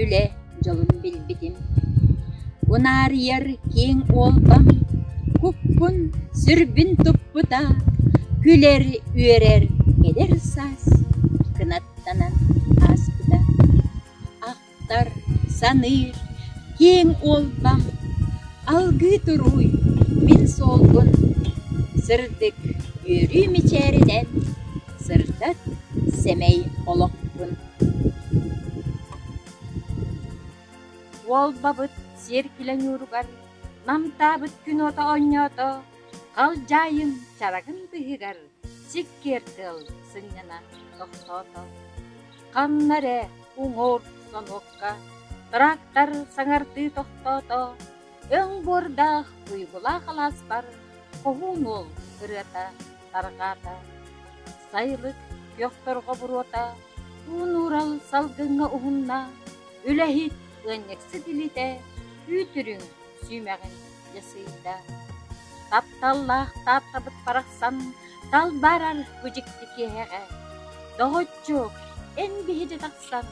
Үлэ дьолун билбитим Унаарыйар киэҥ уолбам Куппун, сүрбүн туппута Күлэр-үөрэр эдэр саас Кынаттанан ааспыта Ахтар, саныыр киэҥ уолбам Алгыы туруй мин суолбун Сырдык үөрүү мичээринэн Сырдат сэмэй олохпун Уолбабыт сиэр күлэ ньууругар намтаабыт күнуота оонньоото, халдьаайын чарагын быыһыгар сиккиэр тыал сынньана тохтоото. Ханна эрэ уҥуор сонуокка трактор саҥардыы тохтоото, өҥ буордаах туйгулаах алааспар хоһуун уол ырыата Тарҕаата, Сайлык Көхтөрҕө буруота, Уу-нуурал салгыҥҥа уһунна, Үлэһит ыанньыксыт илитэ, Үүт-үрүҥ сүүмэҕин дьэ сыйда. Тапталлаах таапкабыт барахсан Талбаарар бу дьикти киэһэҕэ, Доҕоччук, эн биһиги тахсан,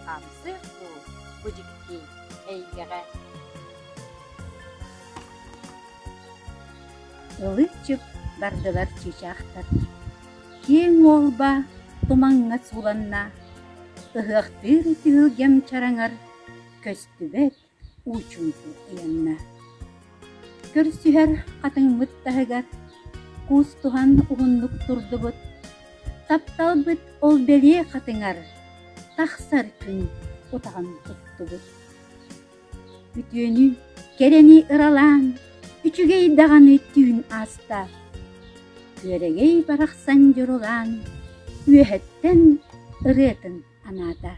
Хамсыах дуу бу дьикти эйгэҕэ. Ылы-чып бардылар чыычаахтар, киэҥ уолба тумаҥҥа сууланна, ыһыахтыыр түһүлгэм чараҥар көстүбэт уучунку ыйанна. Көрсүһэр хатыҥмыт таһыгар куустуһан уһуннук турдубут, тапталбыт ол бэлиэ хатыҥар тахсар күн утаҕын туттубут. Үтүөнү, кэрэни ыралаан, үчүгэй даҕаны түүн ааста. Үөрэгэй барахсан дьурулаан, үөһэттэн ырыатын анаата.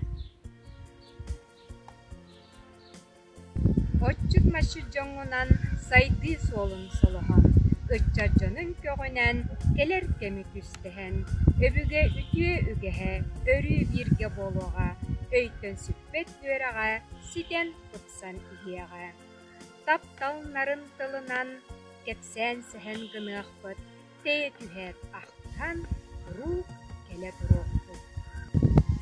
Отчут машит дьоҥунан сайдыы суолун солоһо, ыччат дьонун көҕүнэн кэлэр кэми түстэһэн, өбүгэ үтүө үгэһэ өрүү бииргэ буолуоҕа өйтөн сүппэт үөрэҕэ ситэн тупсан иһиэҕэ. Тапталнарын тылынан кэпсээн сэһэн гыныахпыт тэйэ түһээт ахтыһан куруук кэлэ туруохпут.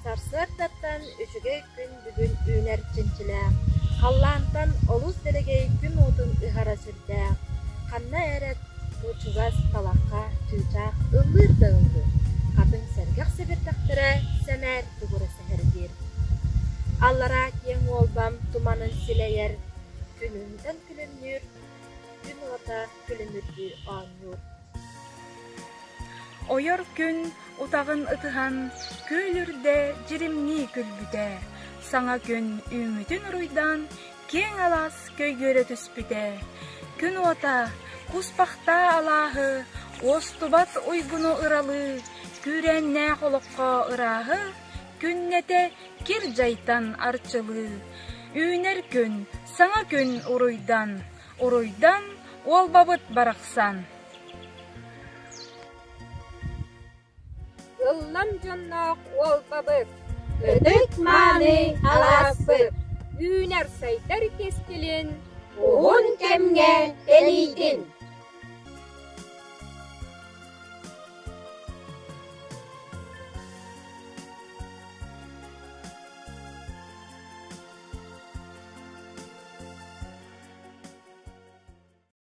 Сарсыардаттан үчүгэй күн бүгүн үүнэр чинчилээх, халлаантан олус дэлэгэй күн уотун ыһара сирдээх, ханна эрэ чугас талахха чыычаах ыллыыр да ыллыыр, хатыҥ сэргэх сэбирдэхтэрэ сэмээр тугура түһэрбит. Аллараа киэҥ уолбам туманын силэйэр, күнүнтэн күлүмнүүр, күн уота күлүмүрдүү оонньуур. Ойор күн утаҕын ытыһан күөл үрдэ дьиримнии күлбүтэ, саҥа күн үүммүтүн уруйдаан Киэҥ алаас көйгүөрэ түспүтэ. Күн уота, куспахтаа алааһы, уостубат уйгуну ыралыы, күүрээннээх олоххо ырааһы, күннэтэ кир дьайтан арчылыы. Үүнэр күн, саҥа күн уруйдан, уруйдан уолбабыт барахсан. Ыллам дьонноох уолбабыт, ытык-мааны алааспыт, үүнэр-сайдар кэскилин, уһун кэмҥэ тэнийдин!